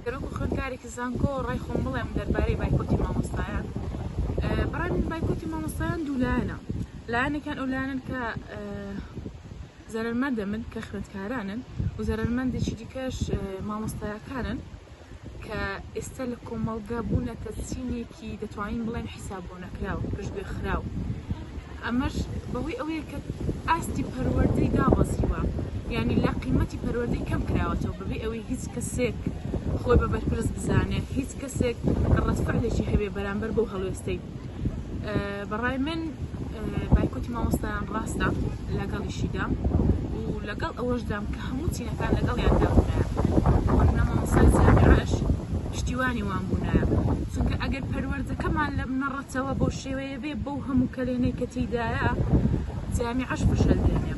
کە وەکو خوێندکارێکی زانکۆ ڕای خۆم بڵێم دەربارەی بایکۆتی مامۆستایان بەڕای من بایکۆتی مامۆستایان دوولایەنە لایەنێکیان ئەو لایەنن کە زەرەرمەندە من کە خوێندکارانن و زەرەرمەندێکی دیکەش مامۆستایەکانن کە ئێستا لە کۆمەڵگا بوونەتە چینێکی دەتوانین بڵێن حیساب بۆ نەکراو پشتگوێ خراو ئەمەش بەهۆی ئەوەیە کە ئاستی پەروەردەی دابەزیوە ینی لە قیمەتی پەروەردەی کەم کراوەتەوە بەبێ ئەوەی هیچ کەسێک خۆی بە بەرپرس بزانێ هیچ کەسێک ڕەتفعلێکی هەبێ بەرامبەر بۆ هەڵوێستەی بەڕای من بایکۆتی مامۆستایان ڕاستە لەگەڵیشیدا و لەگەڵ ئەوەشدام کە هەموو چینەکان لەگەڵیان دابوونایە وەکنا مامۆستای جامیعش پشتیوانی وان بوونایە چونکە ئەگەر پەروەردەکەمان لە منەڕەتەوە بۆ شێوەیە بێ بەو هەموو کەلێنەی کە تیدایە جامیعش فشل دێنێ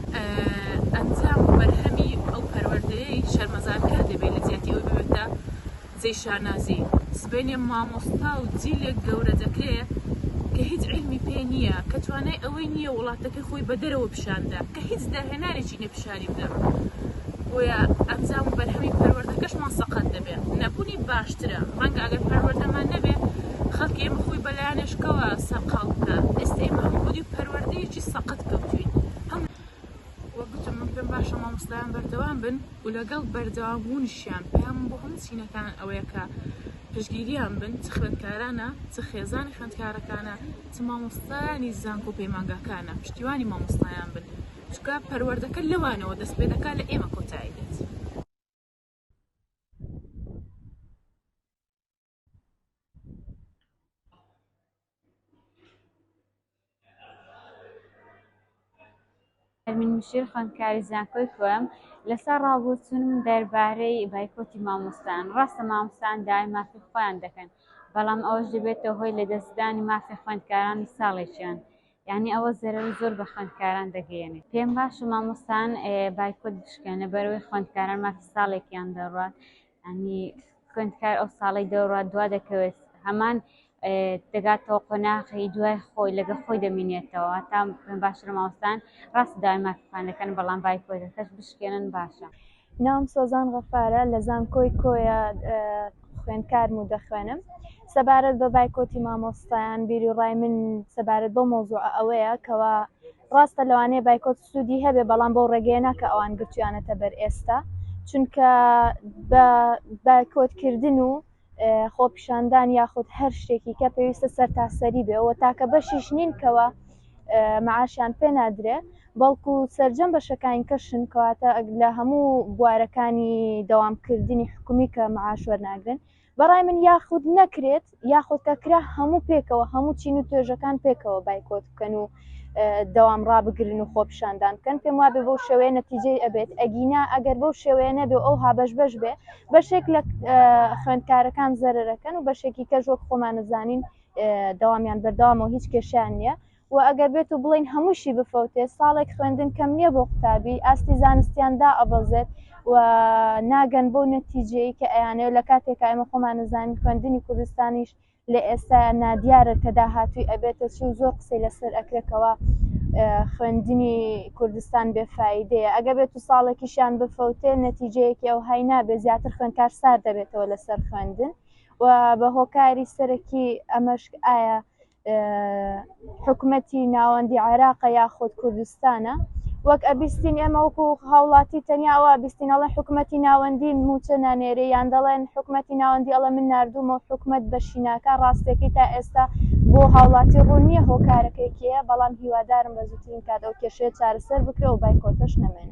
ئەنجام و بەرهەمی ئەو پەروەردەیەی شەرمەزارکە دەبێت لە جیاتی ئەوی ببێتە جێی شانازی. سبەینێ مامۆستا و جیلێک گەورە دەکرێ کە هیچ عیلمی پێ نییە، کە توانای ئەوەی نییە وڵاتەکەی خۆی بە دەرەوە پیشان بدا، کە هیچ داهێنانێکی نییە پیشانی بدا. بۆیە ئەنجام و بەرهەمی پەروەردەکەشمان سەقەت دەبێ. نەبوونی باشترە. ڕەنگە ئەگەر پەروەردەمان نەبێ، خەڵکی ئێمە خۆی بە لایەنێشکەوە سەرقاڵ بکا. ئێستە ئێمە هەموو بەدووی پەروەردەیەکی سەقەت کەوتووین. هەموو. وە گوتم من پێم باشە مامۆستایان بەردەوام بن و لەگەڵ بەردەوام بوونشیان پەیامم بۆ هەموو چینەکان ئەوەیە کە پشتگیریان بن چ خوێندکارانە چ خێزانی خوێندکارەکانە چ مامۆستایانی زانکۆ پەیمانگاکانە پشتیوانی مامۆستایان بن چونکە پەروەردەکە لەوانەوە دەست پێ دەکات لە ئێمە کۆتایی دێت. ئەرمین مشیر خوێندکاری زانکۆی کوێم لەسا ڕاوبۆچوونم دەربارەی بایکۆتی مامۆستان ڕاستە مامۆستان داوای مافی خۆیان دەکەن بەڵام ئەوەش دەبێتەوە هۆی لە دەستدانی مافی خوێندکارانی ساڵێکیان یعنی ئەوە زەرەر زۆر بە خوێندکاران دەگەیێنێت پێم باش و مامۆستان بایکۆت بشکێنە بەرەوەی خوێندکاران مافی ساڵێکیان دەڕوات یانی خوێندکار ئەو ساڵەی دەوروات دوا دەکەوێت هەمان دەگاتەوە قۆناخی دوای خۆی لەگە خۆی دەمینێتەوە تا پێم باشتر ماوەستان ڕاست داوای مافەکان دەکەن بەڵام بایکۆتەکەش بشکێنن باشە. ناوم سۆزان غەفارە لە زانکۆی کۆیە خوێندکارم و دەخوێنم سەبارەت بە بایکۆتی مامۆستایان بیری ڕای من سەبارەت بۆ مۆزوع ئەوەیە کەوا ڕاستە لەوانەیە بایکۆت سودی هەبێ بەڵام بەو ڕێگەیە نا کە ئەوان گرتویانەتە بەر ئێستا چونکە بە بە کۆدکردن و خۆپیشاندان یاخود هەر شتێکی کە پێویستە سەر تاسەری بێەوە تاکە بەشیش نین کەەوە معاشیان پێ نادرێ بەڵکو سرجەم بەشەکانی کەشن کەواتە لە هەموو بوارەکانی دەوامکردنی حکومی کە معاش وەرناگرن بەڕای من یاخود نەکرێت یاخود کە کرا هەموو پێکەوە هەموو چین و توێژەکان پێکەوە بایکۆت بکەن و دەوام ڕابگرن و خۆپیشاندان بکەن پێم وابێ بەو شێوەیە نەتیجەی ئەبێت ئەگینا ئەگەر بەو شێوەیە نەبێ ئەو هابەش بەش بێ بەشێک لە خوێندکارەکان زەرەکەن و بەشێکی کەژۆک خۆمانەزانین دەوامیان بەردەوامەوە هیچ کێشیان نییە وە ئەگەر بێت و بڵێین هەمووشی بفەوتێ ساڵێک خوێندن کەم نیە بۆ قوتابی ئاستی زانستیان دائەبەزێت و ناگەن بەو نەتیجەی کە ئەیانەوێت و لەکاتێکا ئێمە خۆمان ئەزانین خوێندنی کوردستانیش لە ئێستایا نادیارە کە داهاتووی ئەبێتە چی و زۆر قسەی لەسەر ئەکرێت کەوا خوێندنی کوردستان بێ فایدەیە ئەگەر بێت و ساڵێکیشیان بفەوتێ نەتیجەیەکی ئەوهای نابێت زیاتر خوێندکار سارد دەبێتەوە لەسەر خوێندن و بە هۆکاری سەرەکی ئەمەش ئایا حکومەتی ناوەندی عێراقە یاخود کوردستانە وەک ئەبیستین ئێمە وەکو هاوڵاتی تەنیاوە بیستین ئەڵێ حکومەتی ناوەندی موچە نانێرێ یان دەڵێن حکومەتی ناوەندی ئەڵە من نردومە حکومت بەشیناکە ڕاستەکەی تا ئێستا بۆ هاوڵاتی ڕوونیە هۆکارەکەیکەیە بەڵام هیوادارم بە زووترین کات ئەو کێشێت چارەسەر بکرە و بایکۆتەش نەمێن.